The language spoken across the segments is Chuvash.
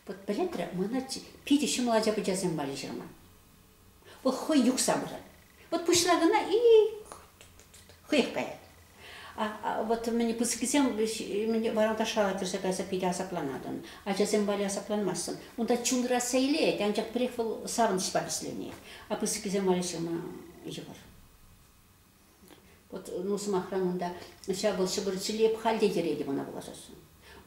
Вӑт пӗлетрӗ мӑнӑрччи питӗ ҫӑмӑл ача-пӑчасем валли ҫырма. Вӑл хӑй юхса пырать. Вӑт пуҫра кӑна и хӑех каять. А, а вот мӗн пысӑккисем мӗн варанташран кӗрсе кайса питӗ асапланатӑн. Ачасем валли асапланмассӑн. Унта чунра сейлет, анчах пӗрех вӑл савӑнӑҫпа вӗсленет. А пысӑккисем валли ҫырма йывӑр. Вот, ну, сӑмахран, унта ҫапӑл ҫӑпӑр ҫӗлеп халь те йӗретӗп ӑна пулашасшӑн.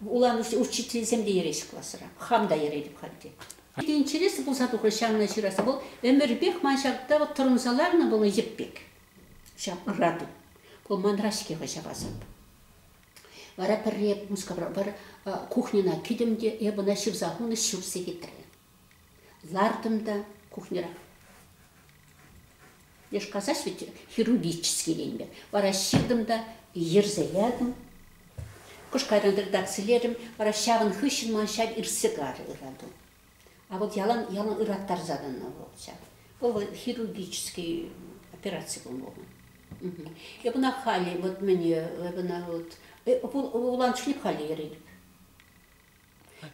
Улан учительсем те йӗреҫҫӗ класра. Хам та йӗретӗп халь те. Питӗ интереслӗ пулса тухрӗ ҫавна ҫыраса. Вӑл ӗмӗрпех ман ҫакта вот тӑрӑнса ларнӑ вӑл йӗп пек. Ҫав ӑрату. Вӑл манра-ҫке хӑй ҫапасӑп. Вара пӗрре Мускавра, пӗр кухньӑна кӗтӗм те эп ӑна ҫырса хунӑ ҫыр сехетрӗ. Лартӑм та кухньӑра. Я ж казась ведь хирургический вара ҫыртӑм та йӗрсе ятӑм. Кӑш кайран редакцилерӗм, вара ҫавӑн хыҫҫӑн ман ҫав иртсе карӗ ырату. А вӑл ялан ялан ыраттарса тӑнӑ вӑл ҫав. Вӑл вӑл хирургический операци пулнӑ вӑл. Эп ӑна халӗ вот мӗне, эп ӑна вот вуланӑ чухне халӗ йӗретӗп.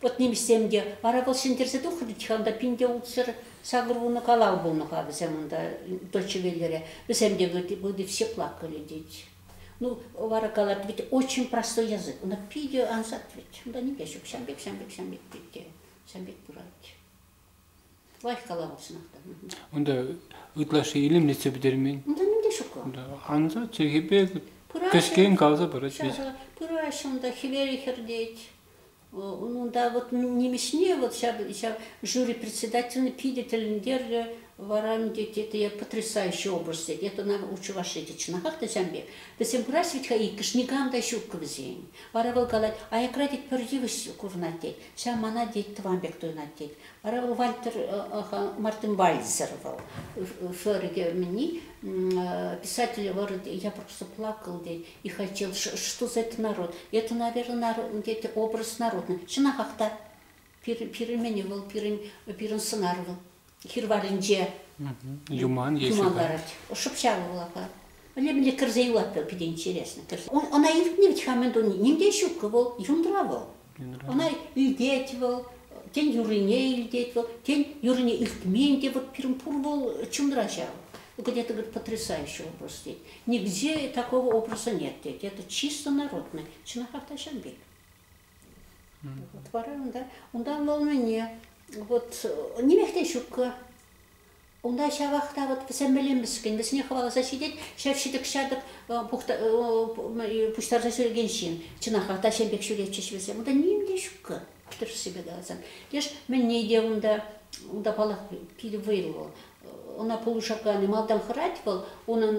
Вот нимӗҫсем те, вара вӑл ҫӗнтерсе тухрӗ тихам та пин те ултсӑр сакӑр вунӑ калав пулнӑ-ха вӗсем унта Дольчевеллере. Вӗсем те вроде, вроде все плакали, тет. Ну, вара калать, ведь очень простой язык. Она питӗ ансат ведь. Унта нике ҫук. Ҫам пек, ҫам пек, ҫам пек, тет те, ҫам пек пырать. Лайӑх калав хутшӑнатӑп. Унта ытлашши илемлетсе пӗтермен. Унта мӗн те ҫук ла. Ансат чӗлхепе кӗскен каласа парать вӗт. Пыраҫҫӗ унта хӗвел хӗртет. Унта вот нимӗҫне вот ҫав, ҫав жюри председательне питӗ тӗлӗнтеррӗ. Вара ӗнтӗ это потрясающий образ. Это на у чӑваш эти чӑнахах та ҫам пек. Вӗсем кураҫҫӗ вӗт-ха иккӗш никам та ҫук вӗсен. Вара вӑл калать, аякра тет пӗр йывӑҫ курӑнать тет. Ҫав мана тет, тӑван пек туйӑнать тет. Вара вӑл Вальтер Мартенвальдсер вӑл Шерге писатель вӑрӑ я просто плакал тет и хотел что за это народ это наверное тет образ народный чӑнахах та пирӗн пирӗн вӑл пирӗн пирӗн сӑнар вӑл хир варринче юман юман ларать. Шӑпчаловал апа. Мӗнле-мӗнле кӗрсе юлать вӑл питӗ интересно. Кӗрсе. Ӑна илтнӗ вӗт ха мӗн туни. Ним те ҫуккӑ вӑл, юндра вӑл. Ӑна илтет вӑл, тен юррине илтет вӑл, тен юррине илтмен те вот пирӗн пур вӑл чунра ҫав. Где-то говорит потрясающий образ тет. Нигде такого образа нет тет. Это чисто народный. Чӑнах автаҫан пек. Вот вара унта, унта лӑннине вот нимех те ҫуккӑ. Унта ҫавах та вот вӗсемле мӗскӗн, вӗсене хӑваласа ҫитет ҫав ҫитӗк-ҫатӑк пуҫтарса ҫӳрекен ҫын. Чӑнахах та ҫем пек ҫӳретчӗҫ вӗсем. Унта ним те ҫуккӑ тӗрӗссипе каласан. Леш мӗнне те унта, унта паллах питӗ вӑйлӑ вӑл. Ӑна пулӑшаканӗ малтан хӑрать вӑл, унӑн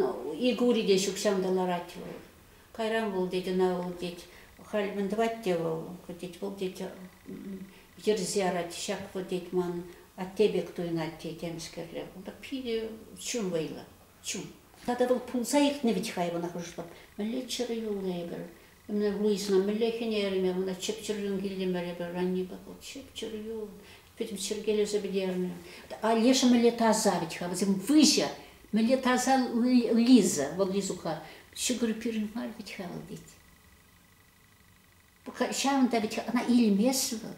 ик ури те ҫук ҫавӑнта ларать вӑл. Кайран вӑл тет, ӑна вӑл тет, халь мӗн тӑвать те вӑл, тет, вӑл тет, йӗрсе арать, ҫак вӑл тет, ман атте пек туйӑнать, тет, темскерле. Вӑл та питӗ чун вӑйлӑ, чун. Тата вӑл пулса иртнӗ вӗт хай мана хӑшла. Мӗнле чӗрӗ юлнӑ эпир. Мӗне Луисӑна мӗнле хӗнерӗм эпӗ, мана чӗп-чӗр юн килтӗмӗр эпӗ, раннипе вӑл чӗп-чӗр юл. пӗтӗм чӗркелесе пӗтернӗ. Леша мӗнле таса вӗт-ха, вӗсем выҫӑ. Мӗнле таса Лиза, вӑл Лизука ҫӑкӑр пирӗн мар вӗт-ха вӑл тет. Ҫавӑнта вӗт ӑна илмест вӑл,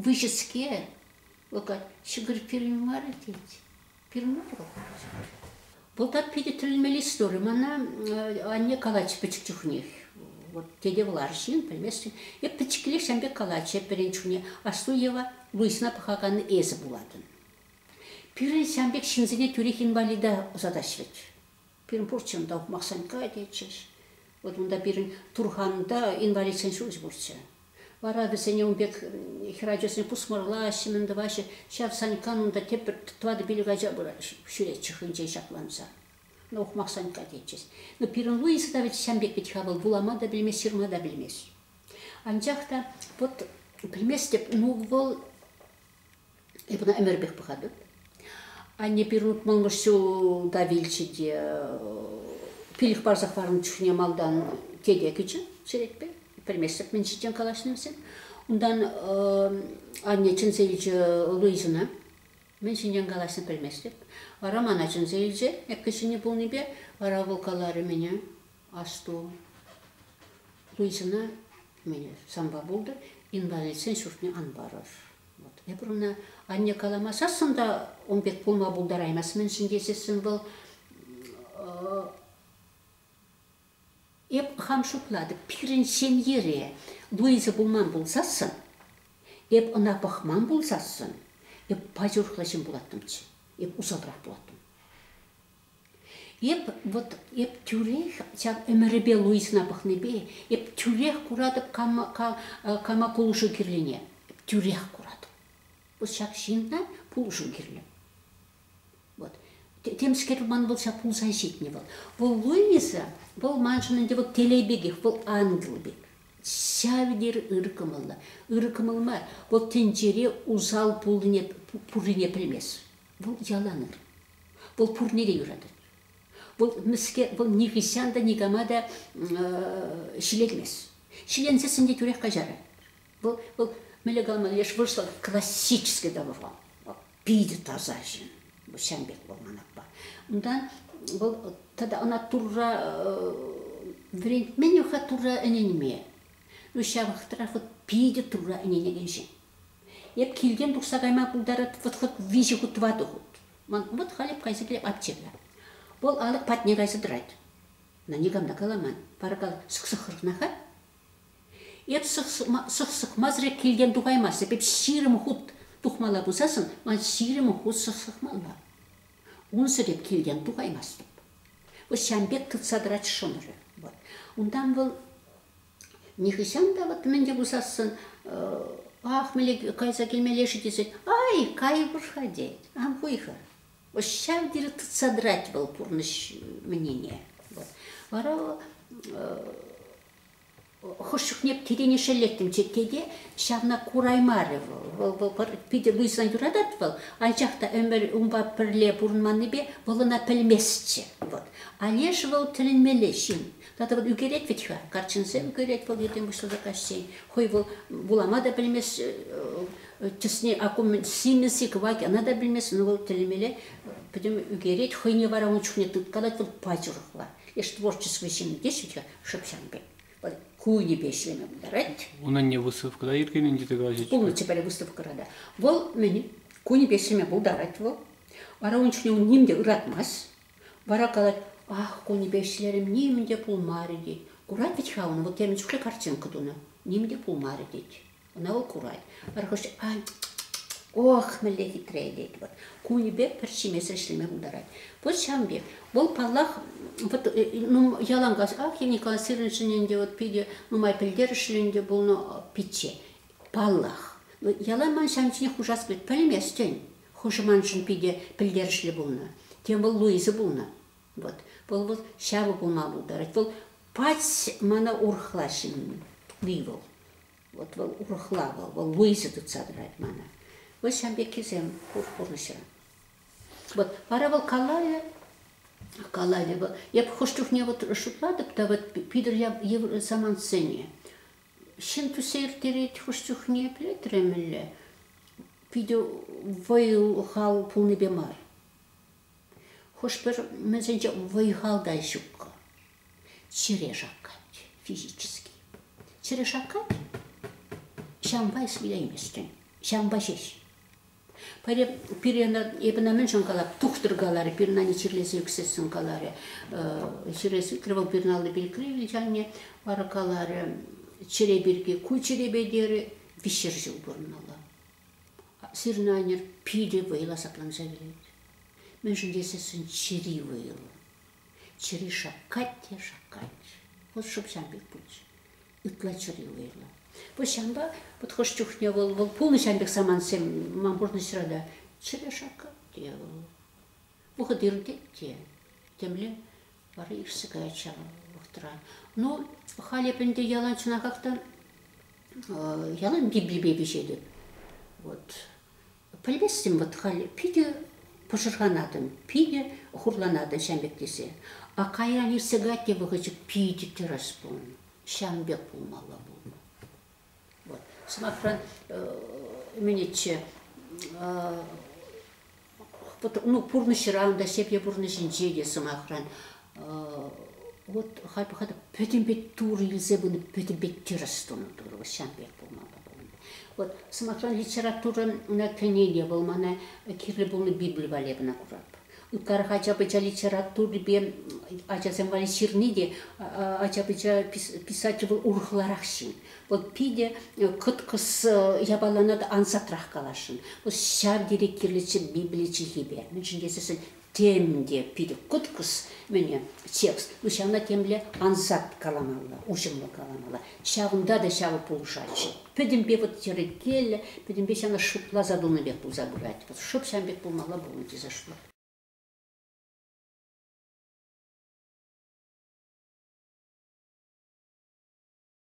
выҫӑскер. Вӑл ҫӑкӑр пирӗн мар тет. Пирӗн пулать. Вӑлта питӗ тӗлӗнмелли истори. Мана анне калатчӗ пӗчӗк чухнех. Вот тете вӑларҫин, пӗлместӗн. Эп пӗчӗккилех ҫам пек калатчӗ пирӗн чухне. Аслу Ева вӑйсӑна пӑхакан эсӗ пулатӑн. Пирӗн ҫам пек ҫынсене тӳрех инвалида ӑсатаҫҫӗ вӗт. Пирӗн пурччен та Ухмахсен кайнӑччӗҫ. Вот унта пирӗн турханта инвалидсен ҫурчӗ пурччӗ. Вара вӗсене ун пек хӗр ачасене пусмӑрлаҫҫӗ, мӗн тӑваҫҫӗ. Ҫав Саньккан унта тепӗр тӑватӑ-пилӗк ача пырать ҫӳретчӗ хӑйӗнчен ҫакланса. Ну, Ухмахсанькка тетчӗҫ. Ну, пирӗн Луиза та вӗт ҫам пек вӗт-ха вӑл, вулама та пӗлмест, ҫырма та пӗлмест. Анчах та вот пӗлместӗп, ну вӑл Эпӗ ӑна ӗмӗрпех пӑхатӑп. Анне пирӗн утмӑлмӗш ҫулта вилчӗ те пилӗк парсах парӑннӑ чухне малтан тете кӗчӗ черетпе. Пӗлместӗп мӗн ҫинчен калаҫнӑ вӗсем. Унтан анне чӗнсе илчӗ Луизӑна. Мӗн ҫинчен калаҫнӑ пӗлместӗп. Вара мана чӗнсе илчӗ. Эккӗ ҫини пулнипе вара вӑл каларӗ мене. Асту, Луизӑна санпа пултӑр, инвалидсен ҫуртне ан парӑр. Вот. Эпир ӑна анне каламасассӑн та ун пек пулма пултараймасть-мӗншӗн тесессӗн вӑл эп хам шутлатӑп, пирӗн ҫемьере Луиза пулман пулсассӑн, эп ӑна пӑхман пулсассӑн, эп пач урӑхла ҫын пулаттӑмччӗ, эп усалрах пулаттӑм. Эп вот эп тӳрех ҫав ӗмӗрӗпе Луизӑна пӑхнипе эп тӳрех куратӑп кама, кама пулӑшу кирлине. Эп тӳрех куратӑп. Вӑл ҫак ҫынна пулӑшу кирлӗ. Вот. Темскер ман вӑл ҫак пулса ҫитнӗ вӑл. Вӑл Луиза, вӑл маншӑн ӗнтӗ вӑл телей пекех, вӑл ангел пек. Ҫав тери ырӑ кӑмӑллӑ. Ырӑ кӑмӑл мар. Вӑл тӗнчере усал пулнине, пуррине пӗлмест. Вӑл ялан ыр. Вӑл пурне те юратать. Вӑл мӗскер, вӑл нихӑҫан та никама та ҫилермест. Ҫиленсессӗн те тӳрех каҫарать. Вӑл, вӑл мӗнле калама леш вырӑсла классический договор. Питӗ таса ҫын. Вӑл ҫавӑн пек вӑл ман аппа. Унтан вӑл тата ӑна Турра вӗрентмен-и-ха Турра ӗненме? Ҫавӑнтарах вӑл питӗ Турра ӗненекен ҫын. Эп килтен тухса кайма пултарать вот вот виҫӗ хут, тӑватӑ хут. Ман вот халь эп кайса килеп аптекӑна. Вӑл алӑк патне кайса тӑрать. Ӑна никам та каламан. Паракал сӑк-сӑк хӑркӑнать-ха. Эп сӑк сӑкмасӑр килтен тухаймас. Эп ҫирӗм хут тухмалла пулсассӑн ман ҫирӗм хут сӑк сӑкмалла. Унсӑр эп килтен тухаймастӑп. Вот ҫавӑн пек тытса тӑрать шӑнӑрӗ. Вот. Унтан вӑл Нихӑҫан та вот мӗн те пусассӑн ах мӗнле кайса килмелле-ши тесен ай кай пур-ха тет. Ан хуй-ха. Вот ҫав тери тытса тӑрать вӑл пурнӑҫ менине. Вот. Вара хӑш чухне тирене шеллеттӗм тете ҫавна кураймарӗ вӑл. Вӑл, вӑл пӗр питӗ выҫсан юратать вӑл, анчах та ӗмӗр унпа пӗрле пурӑнманнипе вӑл ӑна пӗлместчӗ. Вот. А лешӗ вӑл тӗлӗнмелле ҫын. Тата вӑл ӳкерет вӗт-ха, каччӑнсем ӳкерет вӑл йӗтем пуҫласа каҫчен. Хӑй вӑл вулама та пӗлмест, чысне акумӗн симӗс-и кӑвак ӑна та пӗлмест, ӑна вӑл тӗлӗмелле пӗтӗм ӳкерет, хӑйне вара ун чухне тыткалать вӑл паҫӑрхла. Эш творчество ҫын теҫҫӗ-ха шӑпҫан пек. Вӑл кунӗпе ӗҫлеме пултарать. Унӑн не выставкӑра ӳркеннӗ тесе калаҫҫӗ-ччӗ. Пулнӑччӗ пӗрре выставкӑра та. Вӑл мӗн, кунӗпе ӗҫлеме пултарать вӑл. Вара ун чухне ун ним те ыратмасть. Вара калать, ах, кунӗпе ӗҫлерӗм, нимӗн те пулмарӗ тет. Курать вӗт-ха ӑна, вӑл темӗн чухлӗ картинка тунӑ, нимӗн те пулмарӗ тет. Ӑна вӑл курать. Пӗр хӑш, ай, ох, мӗнле хитре тет вӑл. Кунӗпе пӗр ҫимесӗр ӗҫлеме пултарать. Вӑт ҫавӑн пек. Вӑл, паллах, вот ну, яланкас, ах, Енӗкла сирӗншӗн ӗнтӗ вот питӗ нумай пӗлтерӗшлӗ ӗнтӗ пулнӑ пичче. Паллах. Яла ман ҫавӑн ҫине хушас пек пӗлместӗн. Хушӑманшӑн питӗ пӗлтерӗшлӗ пулнӑ. Тем вӑл Луиза пулнӑ. Вот. Вӑл вӑл ҫавӑ пулма пултарать. Вӑл пач мана урӑхла ҫынни вӑл. Вот вӑл урӑхла вӑл. Вӑл Луиза тытса тӑрать мана. Вӑл ҫан пеккисем пурнӑҫра. Вот. Вара вӑл калавӗ калавӗ вӑл. Я хӑш чухне вот шутлатӑп та вот питӗр самантсене. ҫын тӳссе ирттерет хӑш чухне пӗлтермелле питӗ вӑй-хал пулнипе мар хӑш-пӗр мӗнсенче вӑй-хал та ҫук чӗре шаккать физически чӗре шаккать ҫавӑнпа ӗҫлейместӗн ҫавӑнпа ҫеҫ Пире, пире ӑна, эпӗ ӑна мӗншӗн калап, тухтӑр каларӗ, пирӗн анне чирлесе ӳксессӗн каларӗ. Чирлесе ӳкрӗ вӑл пирӗн алли пирки, анне вара каларӗ, чӗре пирки, ку чӗрепе терӗ, виҫшер ҫул пурӑнмалла. Сирӗн аннӗр питӗ вӑйлӑ асапланса килет. Мӗншӗн тесессӗн чӗри вӑйлӑ. Чӗри шаккать те шаккать. Вӑл шӑпчан пек пулчӗ. ытла чӗрлӗ уйрӑм. Пуҫҫанпа вот хӑш чухне вӑл вӑл пулнӑ ҫавӑн пек самантсем ман пурнӑҫра та чӗрӗ шакал те вӑл. Вӑхӑт иртет те, темле вара ирсе каять ҫав вӑхӑтра. Ну, халь эп ӗнтӗ ялан чӑна как-та ялан бибипе пиҫетӗп. Вот Пӗлместӗм вӑт халь, питӗ пӑшӑрханатӑн, питӗ хурланатӑн ҫамрӑк тесе. А кайран иртсе-кать те вӑхӑчӗк питӗ тӗрӗс пулнӑ. Ҫавӑн пек пулмалла пулнӑ. Вӑт, сӑмахран, ӗмӗнӗччӗ ну, пурнӑҫран та, ҫемье пурнӑҫӗнче те, сӑмахран, Вот хальпе хатӑр пӗтӗмпе Турӑ илсе пынӑ пӗтӗмпе тӗрӗс тунӑ Турӑ ҫав пек пулмалла пулнӑ. Вот, сӑмахран, литературӑн ӑна кӗнене вӑл мана кирлӗ пулнӑ Библи валли кӑна куратӑп. Ытларах ача-пӑча литературипе ачасем валли ҫырни те ача-пӑча писатель вӑл урӑхларах ҫын. Вӑл питӗ кӑткӑс япалана та ансатрах каласшӑн. Вӑл ҫав тери кирлӗччӗ Библи чӗлхипе. Мӗншӗн тесессӗн Тем те питӗ кӑткӑс мӗне текст, ну ҫавна темле ансат каламалла, уҫӑмлӑ каламалла. Ҫавӑнта та ҫавӑ пулӑшатчӗ. Пӗтӗмпе вот йӗркеллӗ, пӗтӗмпе ҫавна шутласа тунӑ пек пулса пырать. Вот шӑп ҫавӑн пек пулмалла пулнӑ тесе шутлатӑп.